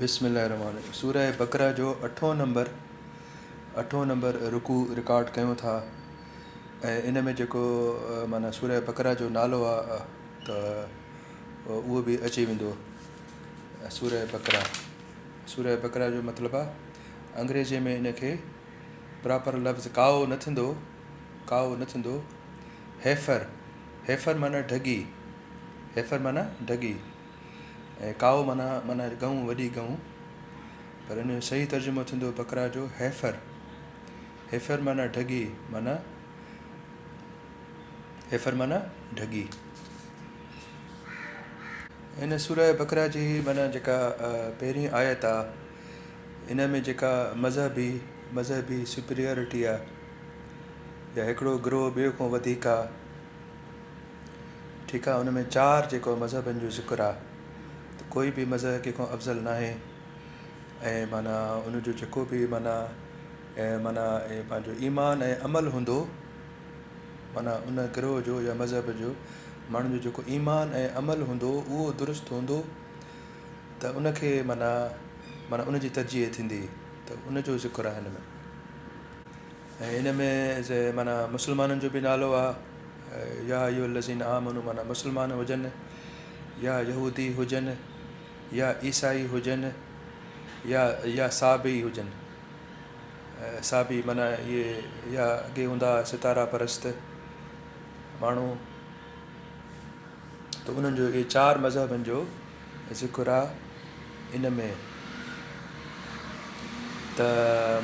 بسم الله الرحمن الرحيم سورة بقرة جو اٺون نمبر اٺون نمبر رڪوع رڪارڊ ڪيون ٿا ۽ ان ۾ جيڪو معنيٰ سورة بقرة جو نالو آهي ته اهو به اچي ويندو سورة بقرة سورة بقرة جو مطلب آهي انگريزي ۾ ان کي پراپر لفظ ڪائو نه ٿيندو ڪائو نه ٿيندو هيفر هيفر معنيٰ ڍڳي هيفر معنيٰ ڍڳي ۽ ڪائو معنيٰ معنيٰ ڳئون، وڏي ڳئون. پر ان جو صحيح ترجمو ٿيندو بقره جو هيفر. هيفر معنيٰ ڍڳي معنيٰ هيفر معنيٰ ڍڳي. ان سوره بقره جي معنيٰ جيڪا پهرين آيت آ ان ۾ جيڪا مذهبي مذهبي سپريئرٽي آ يا هڪڙو گروهه ٻئي کان وڌيڪ آ، ٺيڪ آ ان ۾ چار جيڪو مذهبن جو ذڪر آ ته ڪوئي به مذهب ڪنهن کان افضل ناهي ۽ معنيٰ ان جو جيڪو به معنيٰ ۽ معنيٰ ۽ پنهنجو ايمان ۽ عمل هوندو معنيٰ ان گروه جو يا مذهب جو ماڻهن جو جيڪو ايمان ۽ عمل هوندو اهو درست هوندو ته ان کي معنيٰ معنيٰ ان جي ترجيح ٿيندي ته ان جو ذڪر آ هن ۾. ۽ ان ۾ معنيٰ مسلمانن جو به نالو آ، يا ايها الذين آمنوا معنيٰ مسلمان هجن يا يهودي هجن يا عيسائي هجن يا يا صابئي هجن صابئي معنيٰ اهي يا اڳي هوندا هئا ستارا پرست ماڻهو ته انهن جو اهي چار مذهبن جو ذڪر آ ان ۾ ته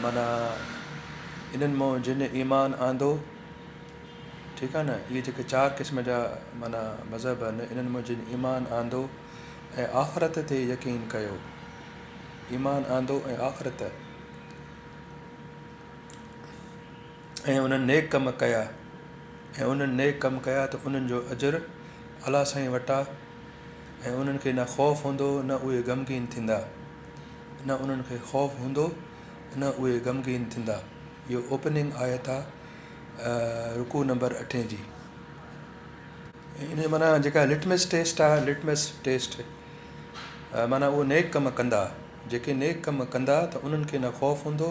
معنيٰ انهن مون جن ايمان آندو، ٺيڪ آ نه، اهي جيڪي چار قسم جا معنيٰ مذهب آهن، انهن مون جن ايمان آندو ۽ آخرت تي يقين ڪيو، ايمان آندو ۽ آخرت ۽ انهن نيڪ ڪم ڪيا ۽ انهن نيڪ ڪم ڪيا ته انهن جو اجر الله سائين وٽان ۽ انهن کي نه خوف هوندو نه اهي غمگين ٿيندا نه انهن کي خوف هوندو نه اهي غمگين ٿيندا اهو اوپننگ آيت آ رڪوع نمبر اٺين جي ان جي معنيٰ جيڪا لٽمس ٽيسٽ آ لٽمس ٽيسٽ معنيٰ اهو نيڪ ڪم ڪندا جيڪي نيڪ ڪم ڪندا ته انهن کي نه خوف هوندو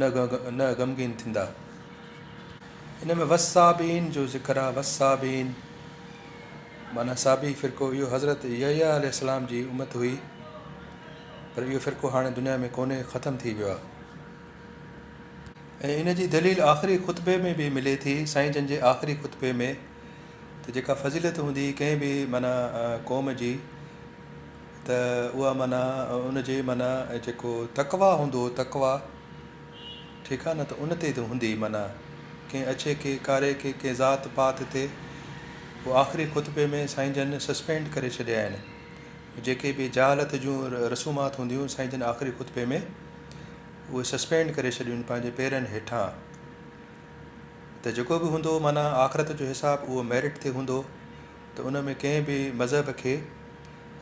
نه نه غمگين ٿيندا ان ۾ وصابين جو ذڪر آ وصابين معنيٰ صحابي فرقو اهو حضرت يحيٰ عليه السلام جي امت هئي پر اهو فرقو هاڻي دنيا ۾ ڪونهي ختم ٿي ويو آهي ۽ ان جي دليل آخري خطبي ۾ به ملي ٿي سائين جن جي آخري خطبي ۾ ته جيڪا فضيلت هوندي ڪنهن به معنيٰ قوم جي ته اها معنيٰ ان جي معنيٰ جيڪو تقويٰ هوندو هو تقويٰ ٺيڪ آ نه ته ان تي ته هوندي معنيٰ ڪنهن اڇي کي ڪاري کي ڪنهن ذات پات تي پوء آخري خطبي ۾ سائين جن سسپينڊ ڪري ڇڏيا آهن جيڪي به جهالت جون رسومات هونديون سائين جن آخري خطبي ۾ اهي سسپينڊ ڪري ڇڏيون پنهنجي پيرن هيٺان ته جيڪو به هوندو معنيٰ آخرت جو حساب اهو ميرٽ تي هوندو ته ان ۾ ڪنهن به مذهب کي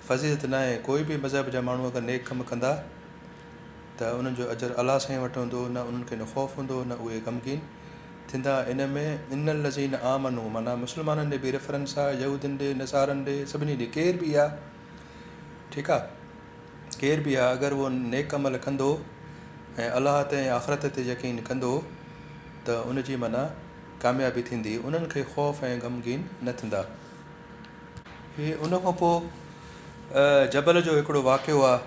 فضيلت ناهي ڪوئي به مذهب جا ماڻهو اگر نيڪ ڪم ڪندا ته انهن جو اجر الله سان ئي وٽ هوندو، نه انهن کي نه خوف هوندو نه اهي غمگين ٿيندا ان ۾ ان الذين آمنوا معنيٰ مسلمانن ڏي به ريفرنس آ، يهودين ڏي، نصارن ڏي، سڀني ڏي ڪير به آ ٺيڪ آ ڪير به آ اگر اهو نيڪ عمل ڪندو ۽ الله تي ۽ آخرت تي يقين ڪندو ته ان جي معنيٰ ڪاميابي ٿيندي انهن کي خوف ۽ غمگين نه ٿيندا. هي ان کان پوء جبل جو هڪڙو واقعو آ.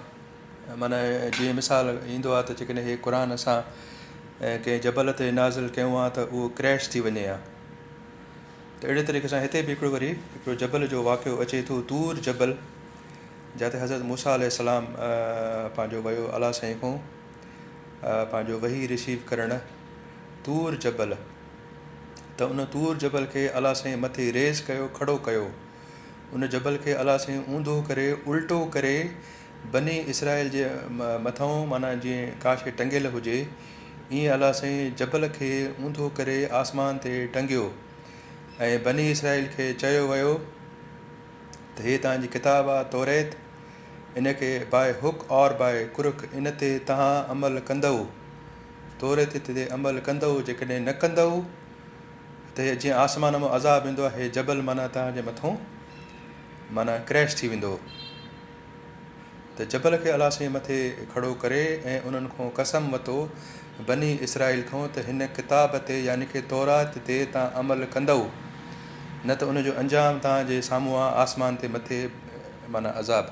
معنيٰ، جيئن مثال ايندو آهي ته جيڪڏهن هي قرآن اسان ڪنهن جبل تي نازل ڪيون ها ته اهو ڪريش ٿي وڃي ها. ته اهڙي طريقي سان هتي به هڪڙو وري هڪڙو جبل جو واقعو اچي ٿو طور جبل جاتي حضرت موسيٰ عليه السلام پنهنجو ويو الله سائين کون پنهنجو وحي ريسيو ڪرڻ طور جبل ته ان طور جبل کي الله سائين مٿي ريز ڪيو کڙو ڪيو ان جبل کي الله سائين اونڌو ڪري الٽو ڪري بني اسرائيل جي مٿئون معنيٰ جيئن ڪا شيء ٽنگيل هجي، ائين الله سائين جبل کي اونڌو ڪري آسمان تي ٽنگيو ۽ بني اسرائيل کي چيو ويو ته هي توهان جي ڪتاب آ توريت، ان کي by hook or by crook ان تي توهان عمل ڪندؤ، توريت تي عمل ڪندؤ، جيڪڏهن نه ڪندؤ ته جيئن آسمان مان عذاب ايندو آهي، جبل معنيٰ توهان جي مٿئون معنيٰ ڪريش ٿي ويندو ته جبل کي الله سائين مٿي کڙو ڪري ۽ انهن کون قسم وتو بني اسرائيل کون ته هن ڪتاب تي يعني ڪه تورات تي تان عمل ڪندؤ نه ته ان جو انجام تان جي سامهون آ آسمان تي مٿي معنيٰ عذاب.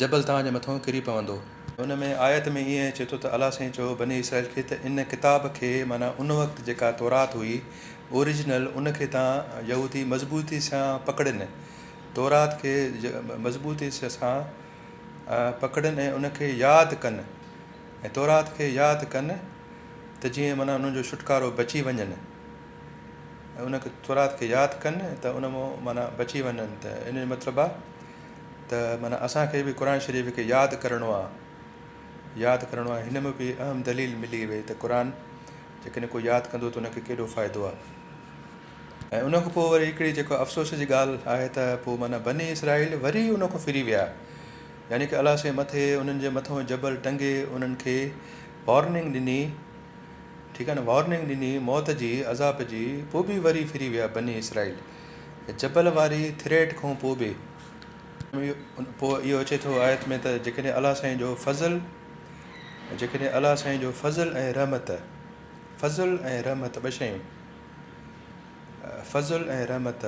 جبل توهان جي مٿئون ڪري پوندو. ان ۾ آيت ۾ ائين اچي ٿو ته الله سائين چئو بني اسرائيل کي ته ان ڪتاب کي معنيٰ ان وقت جيڪا تورات هئي Original ان کي تان يهودي مضبوطي سان پڪڙن تورات کي مضبوطي سان پڪڙن ۽ ان کي ياد ڪن ۽ تورات کي ياد ڪن ته جيئن معنيٰ انهن جو ڇوٽڪارو بچي وڃن ان تورات کي ياد ڪن ته ان معنيٰ بچي وڃن ته ان جو مطلب آهي ته معنيٰ اسان کي به قرآن شريف کي ياد ڪرڻو آهي ياد ڪرڻو آهي هن ۾ به اهم دليل ملي وئي ته قرآن جيڪڏهن ڪو ياد ڪندو ته ان کي ڪيڏو فائدو آهي ۽ ان کان پوء وري هڪڙي جيڪو افسوس جي ڳالهه آهي ته پوء معنيٰ بني اسرائيل وري ان کان ڦري ويا يعني ڪه الله سائين مٿي انهن جي مٿان جبل ٽنگي انهن کي وارننگ ڏني ٺيڪ آهي نه وارننگ ڏني موت جي عذاب جي پوء به وري ڦري ويا بني اسرائيل جبل واري ٿريٽ کون پوء به پوء اهو اچي ٿو آيت ۾ ته جيڪڏهن الله سائين جو فضل جيڪڏهن الله سائين جو فضل ۽ رحمت فضل ۽ رحمت ٻه شيون فضل ۽ رحمت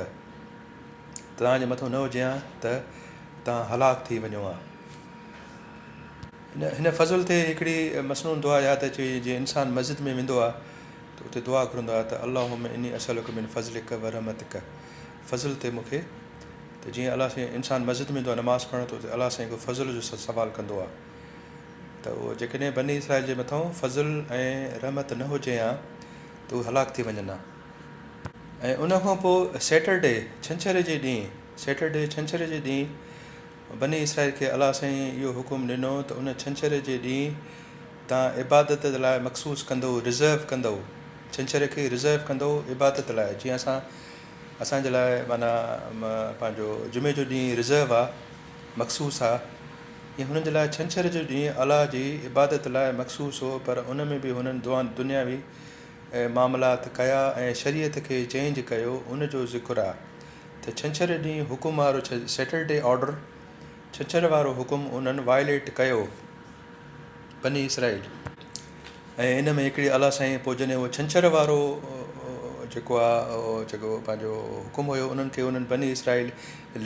توهان جي مٿو نه هجي ها ته توهان هلاڪ ٿي وڃو ها هن فضل تي هڪڙي مسنون دعا ياد اچي وئي جي انسان مسجد ۾ ويندو آهي ته اتي دعا گهرندا هئا ته اللهم اني اسألک من فضلک ورحمتک فضل تي مون کي ته جيئن الله سائين انسان مسجد ۾ ويندو آهي نماز پڙهڻ ته اتي الله سائين کي فضل جو سوال ڪندو آهي ته اهو جيڪڏهن بني اسرائيل جي مٿان فضل ۽ رحمت نه هجي ها ته اهي هلاڪ ٿي وڃن ها ۽ ان کان پوء سيٽرڊي ڇنڇر جي ڏينهن سيٽرڊي ڇنڇر جي ڏينهن بني اسرائيل کي الله سائين اهو حڪم ڏنو ته ان ڇنڇر جي ڏينهن تان عبادت لاء مخصوص ڪندؤ، ريزرو ڪندؤ، ڇنڇر کي ريزرو ڪندؤ عبادت لاء، جيئن اسان اسان جي لاء معنيٰ پنهنجو جمعي جو ڏينهن ريزرو آ، مخصوص آ، ايئن هنن جي لاء ڇنڇر جو ڏينهن الله جي عبادت لاء مخصوص هو، پر ان ۾ به هنن دنياوي معاملات ڪيا ۽ شريعت کي چينج ڪيو، ان جو ذڪر آ ته ڇنڇر ڏينهن حڪم وارو Saturday Order ڇنڇر وارو حڪم انهن Violate ڪيو. بني اسرائيل. ۽ ان ۾ هڪڙي الله سائين پوء جڏهن اهو ڇنڇر وارو جيڪو آ جيڪو پنهنجو حڪم هيو انهن کي انهن بني اسرائيل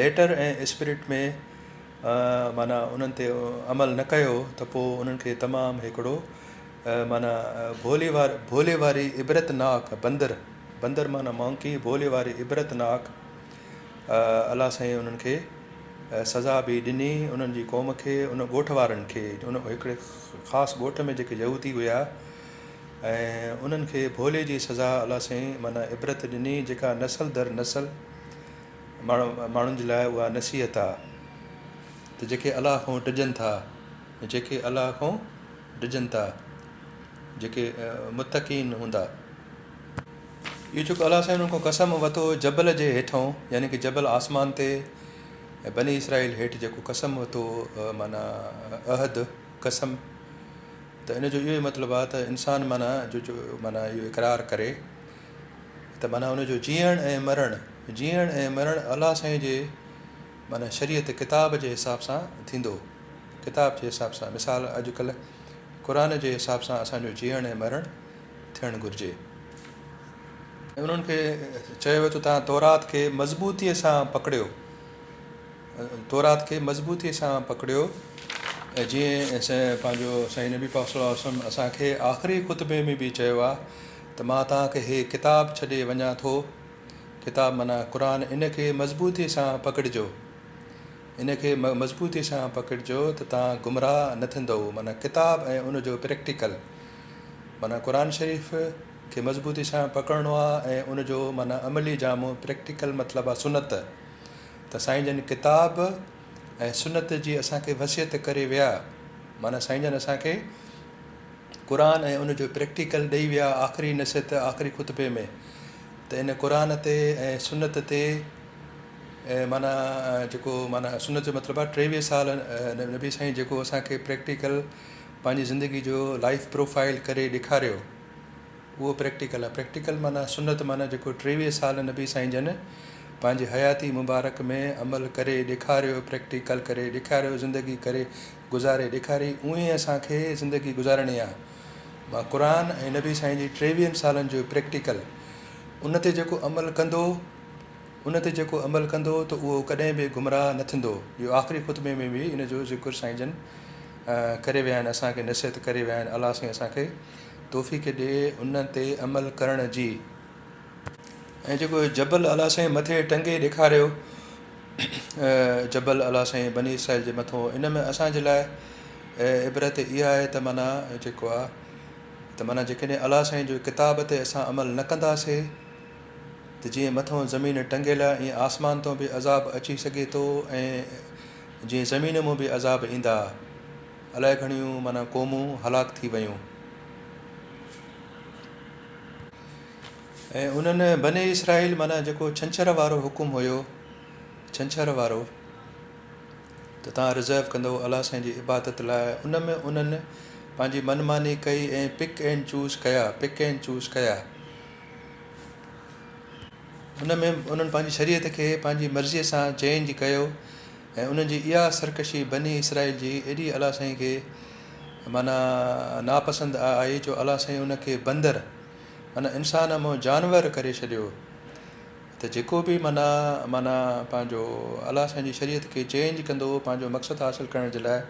ليٽر ۽ اسپريٽ ۾ معنيٰ انهن تي عمل نه ڪيو ته پوء انهن کي تمام هڪڙو معنيٰ ڀولي وار ڀولي واري عبرت ناڪ بندر بندر معنيٰ مونڪي ڀولي واري عبرت ناڪ الله سائين انهن کي سزا به ڏني انهن جي قوم کي ان ڳوٺ وارن کي ان هڪڙي خاص ڳوٺ ۾ جيڪي يهودي هيا ۽ انهن کي ڀولي جي سزا الله سائين معنيٰ عبرت ڏني جيڪا نسل در نسل ماڻهو ماڻهن جي لاء اها نصيحت آ ته جيڪي الله کان ڊڄن ٿا جيڪي الله کان ڊڄن ٿا جيڪي متقين هوندا. اهو جيڪو الله سائين انهن کان قسم وتو هو جبل جي هيٺئون يعني ڪه جبل آسمان تي ۽ بني اسرائيل هيٺ جيڪو قسم وتو هو معنيٰ عهد قسم ته ان جو اهو ئي مطلب آهي ته انسان معنيٰ جو جو معنيٰ اهو اقرار ڪري ته معنيٰ ان جو جيئڻ ۽ مرڻ جيئڻ ۽ مرڻ الله سائين جي معنيٰ شريعت ڪتاب جي حساب سان ٿيندو ڪتاب جي حساب سان مثال اڄ ڪلهه قرآن جي حساب سان اسان جو جيئڻ ۽ مرڻ ٿيڻ گهرجي ۽ انهن کي چيو ويو ته توهان تورات کي مضبوطيء سان پڪڙيو، تورات کي مضبوطيء سان پڪڙيو ۽ جيئن پنهنجو سائين نبي پاڪ صلّي الله عليه وسلّم اسان کي آخري خطبي ۾ به چيو آهي ته مان توهان کي هي ڪتاب ڇڏي وڃان ٿو، ڪتاب معنيٰ قرآن، ان کي مضبوطيء سان پڪڙجو، ان کي مضبوطيء سان پڪڙجو ته توهان گمراهه نه ٿيندؤ، معنيٰ ڪتاب ۽ ان جو پريڪٽيڪل. معنيٰ قرآن شريف کي مضبوطي سان پڪڙڻو آ ۽ ان جو معنيٰ عملي جامو Practical مطلب آ سنت ته سائين جن ڪتاب ۽ سنت جي اسان کي وصيت ڪري ويا معنيٰ سائين جن اسان کي قرآن ۽ ان جو Practical ڏئي ويا آخري نصيحت آخري خطبي ۾ ته ان قرآن تي ۽ سنت تي معنيٰ جيڪو معنيٰ سنت جو مطلب آ ٽيويهه سال نبي سائين جيڪو اسان کي Practical پنهنجي زندگي جو لائيف پروفائيل ڪري ڏيکاريو اهو پريڪٽيڪل آهي پريڪٽيڪل معنيٰ سنت معنيٰ جيڪو ٽيويهه سال نبي سائين جن پنهنجي حياتي مبارڪ ۾ عمل ڪري ڏيکاريو پريڪٽيڪل ڪري ڏيکاريو زندگي ڪري گذاري ڏيکاري اوئين ئي اسان کي زندگي گذارڻي آهي مان قرآن ۽ نبي سائين جي ٽيويهن سالن جو پريڪٽيڪل ان تي جيڪو عمل ڪندو ان تي جيڪو عمل ڪندو ته اهو ڪڏهن به گمراهه نه ٿيندو. اهو آخري خطبي ۾ به ان جو ذڪر سائين جن ڪري ويا آهن اسان کي نصيحت ڪري ويا آهن الله سائين اسان کي توفيق ڏي ان تي عمل ڪرڻ جي. ۽ جيڪو جبل الله سائين مٿي ٽنگي ڏيکاريو جبل الله سائين بني اسرائيل جي مٿون ان ۾ اسان جي لاء عبرت اها آهي ته معنيٰ جيڪو آهي ته معنيٰ جيڪڏهن الله سائين جو ڪتاب تي اسان عمل نه ڪنداسي ته جيئن مٿئون زمين ٽنگيل آهي ائين آسمان تون به عذاب اچي سگهي ٿو ۽ جيئن زمين مون به عذاب ايندا. الائي گهڻيون معنيٰ قومون هلاڪ ٿي ويون. ۽ انهن، بني اسرائيل، معنيٰ جيڪو ڇنڇر وارو حڪم هيو، ڇنڇر وارو، ته توهان رزرو ڪندؤ الله سائين جي عبادت لاء ان ۾ انهن پنهنجي من ماني ڪئي ۽ پڪ اينڊ چوز ڪيا، Pick and Choose، ڪيا. ان ۾ انهن پنهنجي شريعت کي پنهنجي مرضيء سان چينج ڪيو ۽ انهن جي اها سرڪشي بني اسرائيل جي ايڏي الله سائين کي معنيٰ ناپسند آئي جو الله سائين ان کي بندر معنيٰ انسان منهن جانور ڪري ڇڏيو ته جيڪو به معنيٰ معنيٰ پنهنجو الله سائين جي شريعت کي چينج ڪندو پنهنجو مقصد حاصل ڪرڻ جي لاء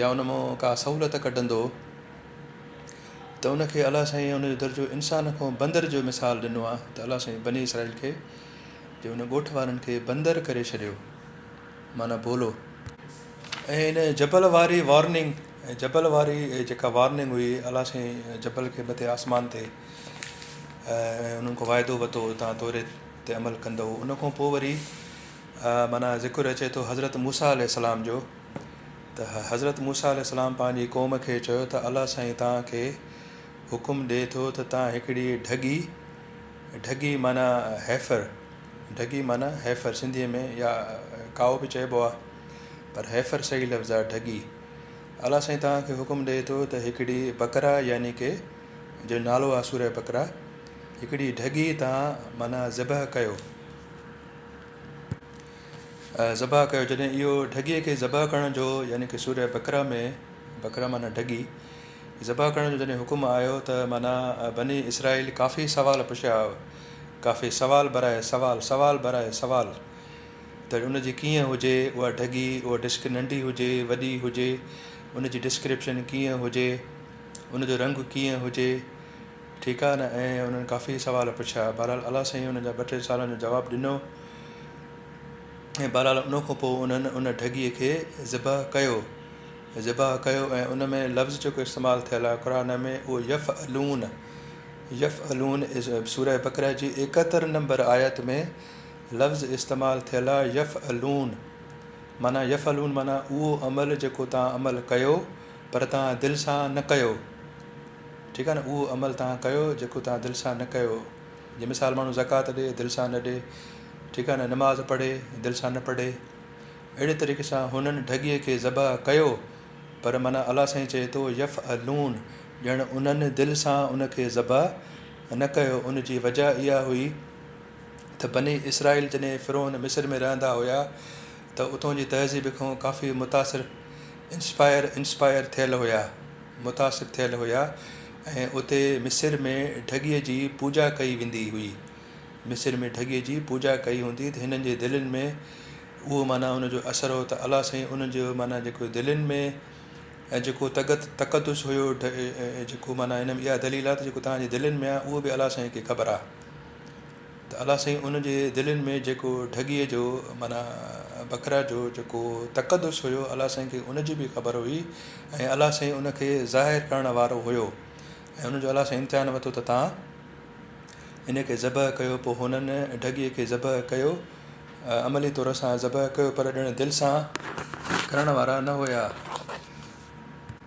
يا ان مون ڪا سهولت ڪڍندو ته ان کي الله سائين ان جو درجو انسان کان بندر جو مثال ڏنو آهي ته الله سائين بني اسرائيل کي جي ان ڳوٺ وارن کي بندر ڪري ڇڏيو معنيٰ ڀولو ۽ ان جبل واري وارننگ ۽ جبل واري جيڪا وارننگ هئي الله سائين جبل کي مٿي آسمان تي ۽ انهن کان واعدو وتو تان توري تي عمل ڪندو ان کان پوء وري معنيٰ ذڪر اچي ٿو حضرت موسيٰ عليه السلام جو ته حضرت موسيٰ عليه السلام پنهنجي قوم کي چيو ته الله سائين توهان کي حڪم ڏئي ٿو ته توهان هڪڙي ڍڳي، ڍڳي معنيٰ هيفر، ڍڳي معنيٰ هيفر سنڌيء ۾ يا ڪائو به چئبو آهي پر هيفر صحيح لفظ آهي ڍڳي. الله سائين توهان کي حڪم ڏئي ٿو ته هڪڙي بقره يعني ڪي جو نالو آهي سورة بقره هڪڙي ڍڳي توهان معنيٰ ذبح ڪيو. ذبح ڪيو جڏهن اهو ڍڳيء کي ذبح ڪرڻ جو يعني ڪه سوره بقره ۾ بقره معنيٰ ڍڳي ذبح ڪرڻ جو جڏهن حڪم آيو ته معنيٰ بني اسرائيل ڪافي سوال پڇيا هئا ڪافي سوال برائي سوال سوال برائي سوال ته ان جي ڪيئن هجي اها ڍڳي اها ڊسڪ ننڍي هجي وڏي هجي ان جي ڊسڪرپشن ڪيئن هجي ان جو رنگ ڪيئن هجي ٺيڪ آهي نه؟ ائين انهن ڪافي سوال پڇيا. بهرحال الله سائين انهن جا ٻه ٽي سوالن جو جواب ڏنو ۽ بهرحال ان کان پوء انهن ان ڍڳيء کي ذبح ڪيو. ذبح ڪيو ۽ ان ۾ لفظ جيڪو استعمال ٿيل آهي قرآن ۾ اهو يفعلون، يفعلون، سوره بقره جي ايڪهتر نمبر آيت ۾ لفظ استعمال ٿيل آهي يفعلون معنيٰ يفعلون معنيٰ اهو عمل جيڪو توهان عمل ڪيو پر توهان دل سان نه ڪيو. ٺيڪ آهي نه اهو عمل توهان ڪيو جيڪو توهان دل سان نه ڪيو جي مثال ماڻهو زڪوات ڏي دل سان نه ڏي ٺيڪ آهي نه نماز پڙهي دل سان نه پڙهي اهڙي طريقي سان هنن ڍڳي کي ذبح ڪيو پر معنيٰ الله سائين چئي ٿو يفعلون ڄڻ انهن دل سان ان کي ذبح نه ڪيو ان جي وجه اها هئي ته بني اسرائيل جڏهن فرعون مصر ۾ رهندا هيا ته اتون جي تهذيب کان ڪافي متاثر، Inspire، Inspire، ٿيل هيا، متاثر ٿيل هيا ۽ اتي مصر ۾ ڍڳيء جي پوڄا ڪئي ويندي هئي، مصر ۾ ڍڳيء جي پوڄا ڪئي هوندي ته هنن جي دلين ۾ اهو معنيٰ ان جو اثر هو ته الله سائين ان جو معنيٰ جيڪو دلين ۾ جيڪو تقد تقدس هيو جيڪو معنيٰ هن ۾ اها دليل آهي ته جيڪو توهان جي دلين ۾ آهي اهو به الله سائين کي خبر آهي. ته الا سائين ان جي دلين ۾ جيڪو ڍڳيء جو معنيٰ بکرا جو جيڪو تقدس هيو الا سائين کي ان جي به خبر هئي ۽ الا سائين ان کي ظاهر ڪرڻ وارو هيو ۽ ان جو الا سائين امتحان ورتو ته تان ان کي ذبح ڪيو پوء هنن ڍڳيء کي ذبح ڪيو عملي طور سان ذبح ڪيو پر ڄڻ دل سان ڪرڻ وارا نه هيا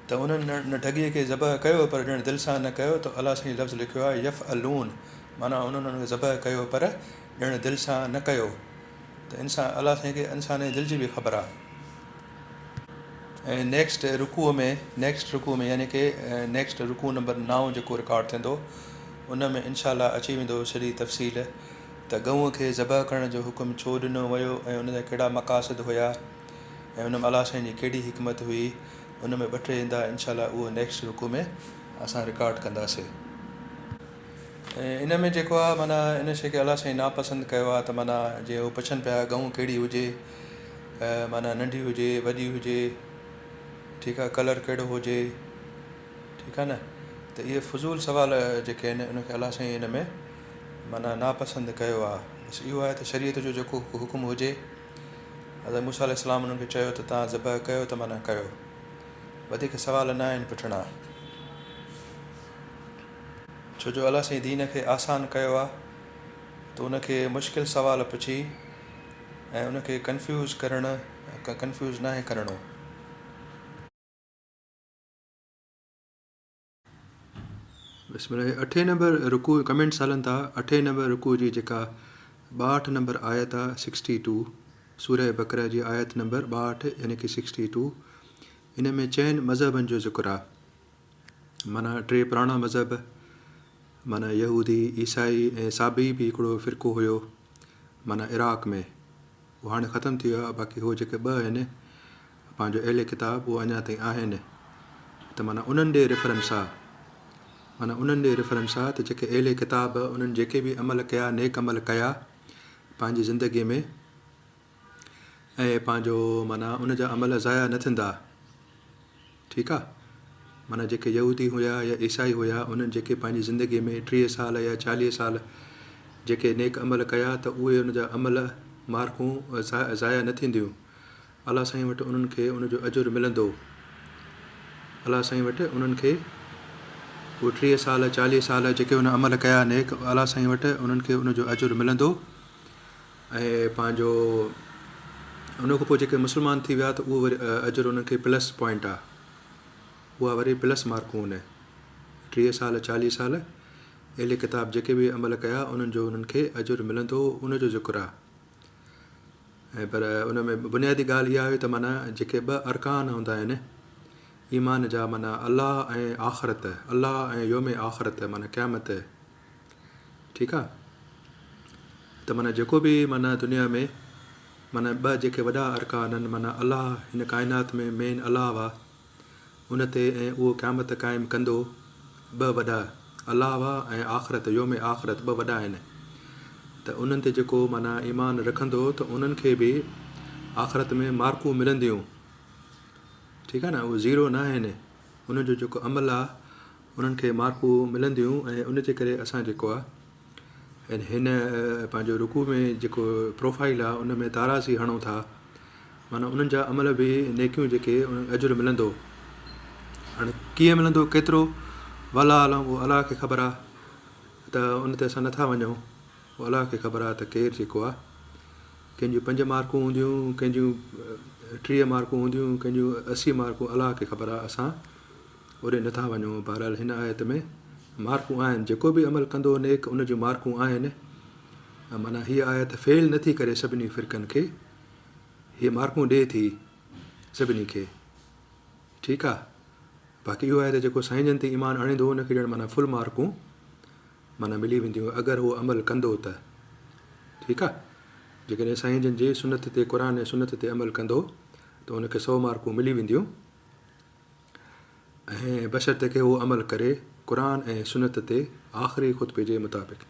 ته انهن ڍڳيء کي ذبح ڪيو پر ڄڻ دل سان نه ڪيو ته الا سائين لفظ لکيو آهي يفعلون معنيٰ هن انهن کي ذبح ڪيو پر ڄڻ دل سان نه ڪيو ته انسان الله سائين کي انسان جي دل جي به خبر آهي ۽ نيڪسٽ رڪوع ۾ نيڪسٽ رڪوع ۾ يعني ڪي نيڪسٽ رڪوع نمبر نائون جيڪو رڪارڊ ٿيندو ان ۾ انشاء الله اچي ويندو سڄي تفصيل ته ڳئون کي ذبح ڪرڻ جو حڪم ڇو ڏنو ويو ۽ ان جا ڪهڙا مقاصد هيا ۽ ان ۾ الله سائين جي ڪهڙي حڪمت هئي ان ۾ ٻه ٽي هندا انشاء الله اهو نيڪسٽ رڪوع ۾ اسان رڪارڊ ڪنداسي. ان ۾ جيڪو آ معنيٰ ان شيء کي الله سائين ناپسند ڪيو آ ته معنيٰ جيئن هو پڇن پيا ڳئون ڪهڙي هجي معنيٰ ننڍي هجي وڏي هجي ٺيڪ آ ڪلر ڪهڙو هجي ٺيڪ آ نه ته اهي فضول سوال جيڪي آهن ان کي الله سائين ان ۾ معنيٰ ناپسند ڪيو آ بس اهو آهي ته شريعت جو جيڪو حڪم هجي حضرت موسيٰ عليه السلام انهن کي چيو ته توهان ذبح ڪيو ته معنيٰ ڪيو وڌيڪ سوال ناهن پڇڻا. ڇو جو الله سائين دين کي آسان ڪيو آ تو ان کي مشڪل سوال پڇي ۽ ان کي ڪنفيوز ڪرڻ ڪنفيوز ناهي ڪرڻو. بسم الله هي اٺين نمبر رڪوع ڪمينٽس هلن ٿا اٺين نمبر رڪوع جي جيڪا ٻاهٺ نمبر آيت آ سڪسٽي ٽو سوره بقره جي آيت نمبر ٻاهٺ يعني ڪي سڪسٽي ٽو ان ۾ چئن مذهبن جو ذڪر آ معنيٰ ٽي پراڻا مذهب، معنيٰ يهودي، عيسائي ۽ صابئي به هڪڙو فرقو هيو، معنيٰ عراق ۾. اهو هاڻي ختم ٿي ويو آهي، باقي هو جيڪي ٻه آهن، پنهنجو اهل ڪتاب، اهو اڃا تائين آهن، ته معنيٰ انهن ڏي ريفرنس آ. معنيٰ انهن ڏي ريفرنس آ ته جيڪي اهل ڪتاب، انهن جيڪي به عمل ڪيا، نيڪ عمل ڪيا، پنهنجي زندگيء ۾. ۽ پنهنجو معنيٰ ان جا عمل ضايع نه ٿيندا. ٺيڪ آ. معنيٰ جيڪي يهودي هيا يا عيسائي هيا انهن جيڪي پنهنجي زندگي ۾ ٽيهه سال يا چاليهه سال جيڪي نيڪ عمل ڪيا ته اهي ان جا عمل، مارڪون، ضايع نه ٿينديون. الله سائين وٽ انهن کي ان جو اجر ملندو. الله سائين وٽ انهن کي اهي ٽيهه سال چاليهه سال جيڪي ان عمل ڪيا نيڪ الله سائين وٽ انهن کي ان جو اجر ملندو. ۽ پنهنجو ان کان پوء جيڪي مسلمان ٿي ويا ته اهو وري اجر انهن کي پلس پوائنٽ آ اها وري پلس مارڪون هوني ٽيهه سال چاليهه سال اهل ڪتاب جيڪي به عمل ڪيا انهن جو انهن کي اجر ملندو ان جو ذڪر آ ۽ پر ان ۾ بنيادي ڳالهه اها هئي ته معنی جيڪي ٻه ارڪان هوندا آهن ايمان جا معنی الله ۽ آخرت الله ۽ يوم آخرت معنی قيامت ٺيڪ آ ته معنيٰ جيڪو به معنيٰ دنيا ۾ معنيٰ ٻه جيڪي وڏا ارڪان آهن معنيٰ الله هن ڪائنات ۾ مين الله آ ان تي ۽ اهو قيامت قائم ڪندو ٻه وڏا الله آ ۽ آخرت يوم آخرت ٻه وڏا آهن ته انهن تي جيڪو معنيٰ ايمان رکندو ته انهن کي به آخرت ۾ مارڪون ملنديون ٺيڪ آ نه اهو زيرو نه آهن انهن جو جيڪو عمل آ انهن کي مارڪون ملنديون ۽ ان جي ڪري اسان جيڪو آ ۽ هن پنهنجو رڪوع ۾ جيڪو پروفائيل آ ان ۾ تارازي هڻون ٿا معنيٰ انهن جا عمل به نيڪيون جيڪي انهن اجر ملندو هاڻي ڪيئن ملندو ڪيترو والله اعلم اهو الله کي خبر آ ته ان تي اسان نٿا وڃون اهو الله کي خبر آ ته ڪير جيڪو آ ڪنهن جون پنج مارڪون هونديون ڪنهن جون ٽيهه مارڪون هونديون ڪنهن جون اسي مارڪون الله کي خبر آ اسان اوڏي نٿا وڃون، بهرحال هن آيت ۾ مارڪون آهن، جيڪو به عمل ڪندو نيڪ ان جون مارڪون آهن، معنيٰ هيء آيت فيل نٿي ڪري سڀني فرقن کي، هيء مارڪون ڏئي ٿي سڀني کي، ٺيڪ آ، باقي اهو آهي ته جيڪو سائين جن تي ايمان آڻيندو ان کي ڄڻ معنيٰ فل مارڪون معنيٰ ملي وينديون اگر هو عمل ڪندو ته، ٺيڪ آ، جيڪڏهن سائين جن جي سنت تي قرآن ۽ سنت تي عمل ڪندو ته ان کي سؤ مارڪون ملي وينديون. ۽ بشرطيڪه هو عمل ڪري قرآن ۽ سنت تي آخري خطبي جي مطابق.